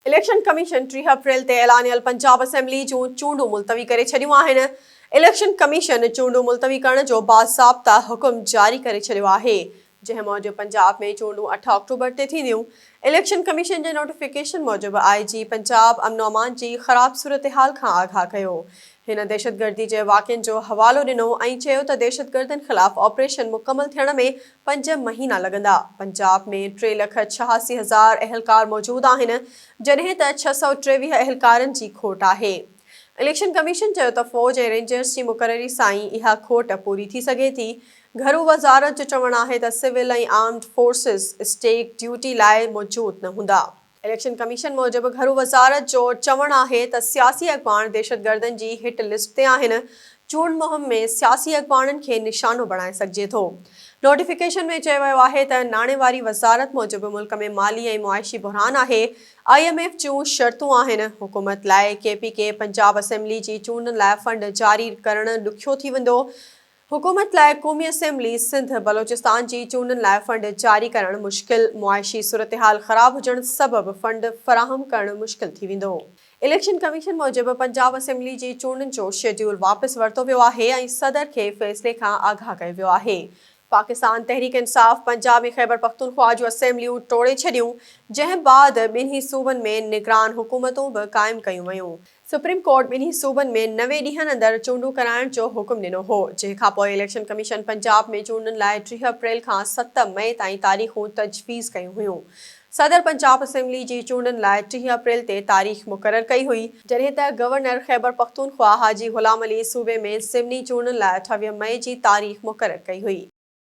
Election commission ٽيهه April تي اعلانيل پنجاب اسيمبلي جون چونڊون ملتوي ڪري ڇڏيون آهن، اليڪشن ڪميشن چونڊون ملتوي ڪرڻ جو باضابطه حڪم جاري ڪري ڇڏيو آهي، جنهن موجب پنجاب ۾ چونڊون اٺ آڪٽوبر تي ٿينديون، اليڪشن ڪميشن جي نوٽيفڪيشن موجب آء جي پنجاب امن و امان جي خراب صورتحال کان آگاهه ڪيو، هن دهشتگردي جي واقعن جو حوالو ڏنو ۽ چيو ته دهشتگردن خلاف آپريشن مڪمل ٿيڻ ۾ پنج مهينا لڳندا. پنجاب ۾ ٽي لک ڇهاسي هزار اهلڪار موجود آهن، جڏهن ته ڇهه سؤ ٽيويهه اهلڪارن جي کوٽ آهي. اليڪشن ڪميشن چيو ته فوج ۽ رينجرز جي مقرري سان ئي اها کوٽ پوري ٿي سگهي ٿي. گهرو وزارت جو چوڻ آهي ته civil ۽ armed forces state duty لاء موجود نه هوندا. اليڪشن ڪميشن موجب گهرو وزارت جو چوڻ آهي ته سياسي اڳواڻ دهشتگردن جي هٽ لسٽ تي آهن، چونڊ مهم ۾ سياسي اڳواڻن کي نشانو بڻائي سگهجي ٿو. نوٽيفڪيشن ۾ چيو ويو آهي ته ناڻي واري وزارت موجب ملڪ ۾ مالي ۽ معاشي بحران آهي، آء ايم ايف جون شرطون آهن، حڪومت لاء K P K Punjab assembly جي چونڊن لاء فنڊ جاري ڪرڻ ڏکيو ٿي ويندو، حڪومت لاء قومي اسيمبلي سنڌ بلوچستان جي چونڊن لاء فنڊ جاري ڪرڻ مشڪل، معاشي صورتحال خراب هجڻ سبب فنڊ فراهم ڪرڻ مشڪل ٿي ويندو. اليڪشن ڪميشن موجب پنجاب اسيمبلي جي چونڊن جو شيڊيول واپس ورتو ويو آهي ۽ صدر کي فيصلي کان آگاهه ڪيو ويو آهي. پاڪستان تحريڪ انصاف پنجاب ۽ خيبرپختونخوا جون اسيمبليون ٽوڙي ڇڏيون، جنهن بعد ٻنهي صوبن ۾ نگران حڪومتون به قائم ڪيون ويون. سپريم ڪورٽ ٻنهي صوبن ۾ نوي ڏينهن اندر چونڊون ڪرائڻ جو حڪم ڏنو هو، جنهن کانپوء اليڪشن ڪميشن پنجاب ۾ چونڊن لاء ٽيهه اپريل کان ست مئي تائين تاريخون تجويز ڪيون هيون. صدر پنجاب اسيمبلي جي چونڊن لاء ٽيهه اپريل تي تاريخ مقرر ڪئي هئي، جڏهن ته گورنر خيبرپختونخوا حاجي غلام علي صوبي ۾ ضمني چونڊن لاء اٺويهه مئي جي تاريخ مقرر ڪئي هئي.